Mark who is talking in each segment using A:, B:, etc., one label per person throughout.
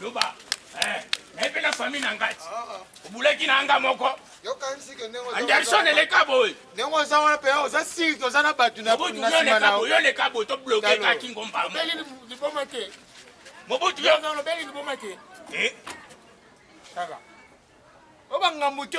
A: loba eh, naye mpe na famille na ngai obulaki na nga moko anderson eleka boye ndenge oza wana mpe oza siri toza na bato na nsima na yo oleka boye tobloke kaka kingomba liboma te mobutu yo olobeli liboma te eh? kaka obangambu te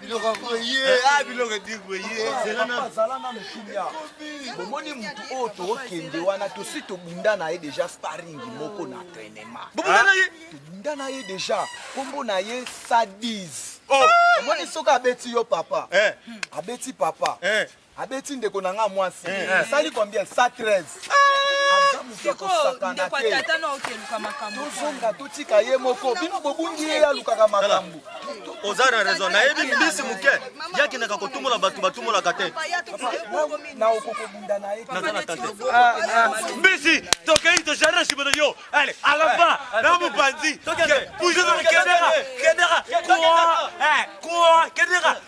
B: biloko boye a biloko edir boye zala nano kimia bomoni motu oyo tokokende wana tosi tobunda na ye deja sparing moko na entraînement tobunda na ye tobunda na ye deja nkombo na ye sadise omoni soki abeti yo papa abeti papa abeti ndeko na nga mwasi eh. asali combien 113 tozonga totika ye moko bino bobungi ye alukaka makambo oza na raison
C: nayebi mbisi moke yakendaka kotumola bato batumolaka te naza
B: na tante ah, ah. mbisi
C: tokei tojardin nsima na yo ale alaba na mopanzi puizo na kendeka kendeka kua kua kendeka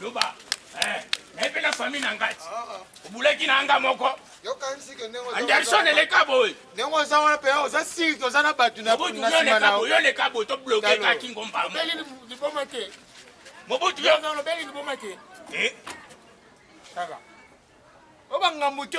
A: loba eh, naye mpe na famille na ngai obulaki na anga moko anderson eleka boye ndenge oza wana mpe
D: oza siri te oza na bato na nsima na yo oleka boye tobloke kaka
A: kingomba liboma
D: te mobutu
A: yo olobeli liboma te
D: eh?
A: kaka
D: obangambo te